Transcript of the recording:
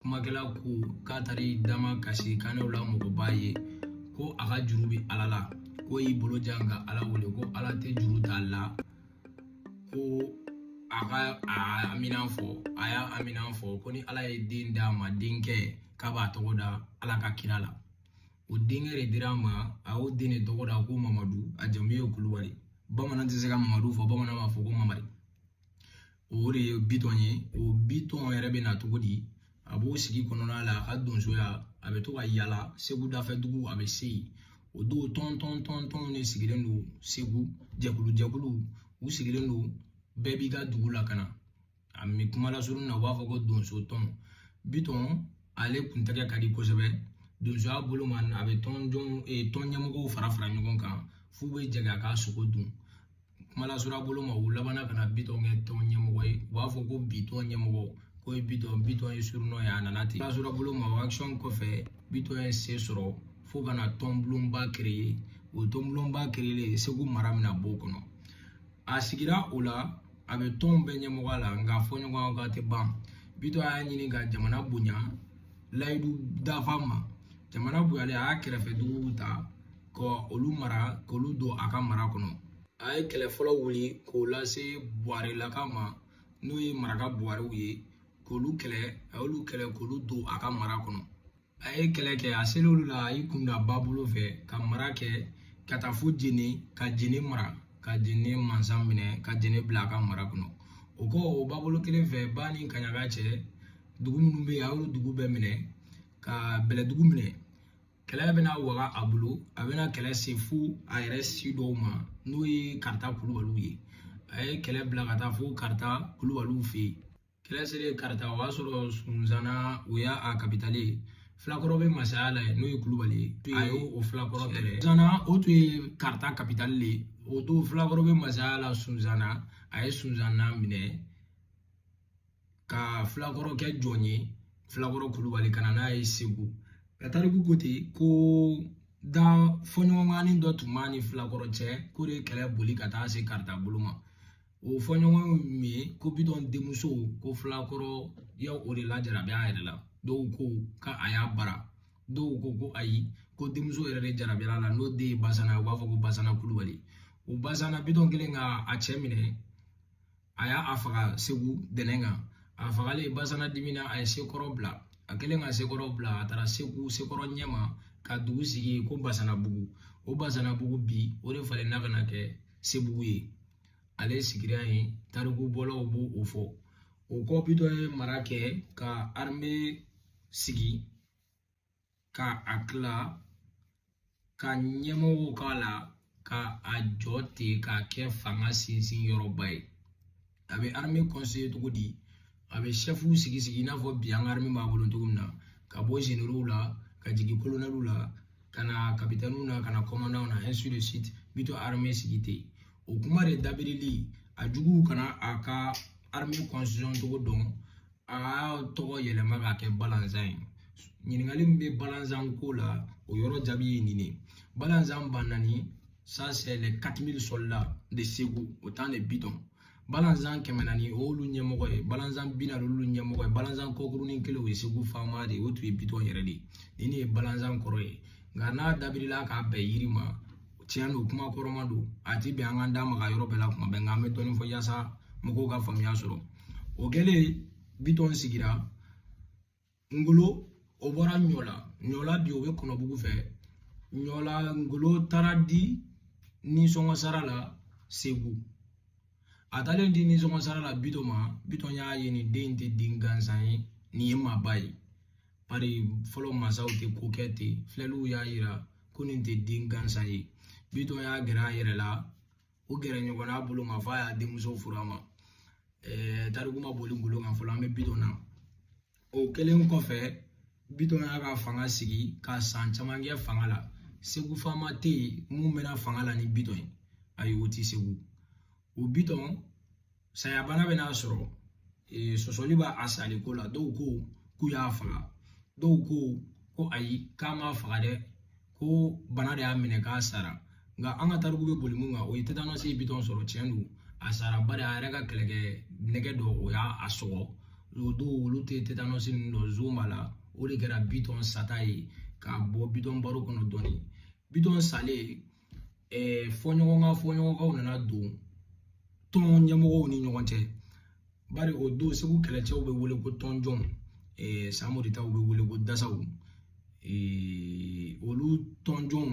kumakɛla ko k'a taara i damakasi kanɛw la mɔgɔba ye ko a ka juru bɛ ala la k'o y'i bolo jan ka ala wele ko ala tɛ juru t'a la ko a ka a aminan fɔ a y'a aminan fɔ ko ni ala ye den d'a ma denkɛ k'a b'a tɔgɔ da ala ka kira la o denkɛ de dira a ma a y'o den de tɔgɔ da ko mamadu a jamu ye kulubali bamanan tɛ se ka mamadu fɔ bamanan b'a fɔ ko mamari o de ye bitɔn ye o bitɔn yɛrɛ bɛ na cogo di a b'o sigi kɔnɔna la a ka donsoya a bɛ to ka yala segu dafɛ dugu a bɛ se yen o don tɔn tɔn tɔn tɔn de sigilen don segu jɛkulu jɛkulu u sigilen don bɛɛ b'i ka dugu la ka na a mi kuma lasurun na u b'a fɔ ko donso tɔn bitɔn ale kuntɛgɛ ka di kosɛbɛ donsoya bolo ma a bɛ tɔn jɔn tɔn ɲɛmɔgɔw fara fara ɲɔgɔn kan f'u bɛ jɛ k'a ka sogo dun kuma lasurunya bolo ma u labanna ka na bitɔn kɛ tɔn ɲɛmɔgɔ ye u b'a fɔ ko bitɔn ɲɛmɔgɔ k'o ye bitɔn bitɔn ye surunɔ ye a nana ten kuma lasurunya bolo ma o akisɔn kɔfɛ bitɔn ye se sɔrɔ fo ka na tɔnbulonba kereye o tɔnbulonba kereyelen segu mara mina b'o kɔnɔ a sigira o la a bɛ tɔnw bɛɛ ɲɛmɔgɔ la nka fɔɲɔgɔnkɔ tɛ ban bitɔn y'a ɲini ka jamana bonya layidu dafa ma jamana bonyalen a y'a kɛrɛfɛ duguw ta ka olu mara k'olu don a ka mara kɔnɔ a ye kɛlɛ fɔlɔ wuli k'o lase buwarelaka ma n'o ye maraka buwarew ye k'olu kɛlɛ a y'olu kɛlɛ k'olu don a ka mara kɔnɔ a ye kɛlɛ kɛ a selen olu la a y'i kun da ba bolo fɛ ka mara kɛ ka taa fo jeni ka jeni mara ka jeni mansa minɛ ka jeni bila a ka mara kɔnɔ o kɔ o ba bolo kelen fɛ ba ni kaɲaga cɛ dugu minnu bɛ yen a y'olu dugu bɛɛ minɛ ka bɛlɛdugu minɛ kɛlɛ bɛna waga a bolo a bɛna kɛlɛ se fo a yɛrɛ si dɔw ma n'o ye karita kulubaliw ye a ye kɛlɛ bila ka taa fo karita kulubaliw fɛ yen kɛlɛ selen karita o y'a sɔrɔ sunzana o y'a kapitali ye filakɔrɔ bɛ masaya la yen n'o ye kulubali ye a ye o filakɔrɔ tɛrɛ sunzana o tun ye karita kapitali de ye o don filakɔrɔ bɛ masaya la sunzana a ye sunzana minɛ ka filakɔrɔ kɛ jɔn ye filakɔrɔ kulubali ka na n'a ye segu ka tariku ko ten ko da fɔɲɔgɔnkɔnin dɔ tun b'a ni filakɔrɔ cɛ k'o de ye kɛlɛ boli ka taa se karita bolo ma o fɔɲɔgɔn min ye ko bitɔn denmuso ko filakɔrɔ ye o de lajarabi a yɛrɛ la dɔw ko k'a y'a bara dɔw ko ko ayi ko denmuso yɛrɛ de jarabira a la n'o den ye basana u b'a fɔ ko basana kulubali o basana bitɔn kɛlen ka a cɛ minɛ a y'a faga segu dɛnɛn kan a fagalen basana dimina a ye sekɔrɔ bila a kɛlen ka sekɔrɔ bila a taara segu sekɔrɔ ɲɛma ka dugu sigi ko basanabugu o basanabugu bi o de falenna ka na kɛ sebugu ye ale sigira yen tariku bɔlaw b'o o fɔ o kɔ bitɔn ye mara kɛ ka arme sigi ka a tila ka ɲɛmɔgɔw k'a la ka a jɔ ten k'a kɛ fanga sinsin yɔrɔba ye a bɛ arme constituer cogo di a bɛ sɛfuw sigi sigi i n'a fɔ bi an ka arme b'a bolo cogo min na ka bɔ zenerow la ka jigin kolonɛliw la ka na kapitɛniw na ka na kɔmandanw na ainsi de suite bitɔn arme sigi ten o kuma de dabirili a juguw kana a ka arme constitution cogo dɔn a y'a tɔgɔ yɛlɛma k'a kɛ balanzan ye ɲininkali min bɛ balanzan ko la o yɔrɔ jaabi ye nin de ye balanzan ba naani ça c'est les 4000 soldats de Segu au temps de Bitɔn balanzan kɛmɛ naani o y'olu ɲɛmɔgɔ ye balanzan bi naani olu ɲɛmɔgɔ ye balanzan kɔkurunin kelen o ye Segu faama de ye o tun ye Bitɔn yɛrɛ de ye nin de ye balanzan kɔrɔ ye nka n'a dabirila k'a bɛn yiri ma tiɲɛ don kuma kɔrɔma don a ti bɛn an ka da maga yɔrɔ bɛɛ la kuma bɛɛ nka an bɛ dɔɔnin fɔ yaasa mɔgɔw ka faamuya sɔrɔ o kɛlen bitɔn sigira ngolo o bɔra ɲɔla ɲɔla bi o bɛ kɔnɔbugu fɛ ɲɔla ngolo taara di nisɔngɔ sara la segu a taalen di nisɔngɔ sara la bitɔn ma bitɔn y'a ye nin den tɛ den gansan ye nin ye maaba ye bari fɔlɔ mansaw tɛ ko kɛ ten filɛliw y'a yira ko nin tɛ den gansan ye bitɔn y'a gɛrɛ a yɛrɛ la o gɛrɛ ɲɔgɔn na bolo ma f'a y'a denmuso furu a ma tariku ma boli ngolo kan fɔlɔ an bɛ bitɔn na o kɛlen kɔfɛ bitɔn y'a ka fanga sigi ka san caman kɛ fanga la segu faama tɛ yen min mɛnna fanga la ni bitɔn ye ayi o tɛ segu o bitɔn saya bana bɛ n'a sɔrɔ ee, sɔsɔli b'a sali ko la dɔw ko k'u y'a faga dɔw ko ko ayi k'a ma faga dɛ ko bana de y'a minɛ k'a sara nka an ka tariku bɛ boli mun kan o ye tetanɔsi ye bitɔn sɔrɔ tiɲɛ don a sara bari a yɛrɛ ka kɛlɛkɛ nɛgɛ dɔ o y'a sɔgɔ o don olu tɛ tetanɔsi ninnu dɔn zon b'a la o de kɛra bitɔn sata ye ka bɔ bitɔn baro kɔnɔ dɔɔnin bitɔn salen eh, fɔɲɔgɔnkan fɔɲɔgɔnkɔw nana don tɔn ɲɛmɔgɔw ni ɲɔgɔn cɛ bari o don segu kɛlɛcɛw bɛ wele ko tɔnjɔnw eh, samori taw bɛ wele ko dasaw eh, olu tɔnjɔnw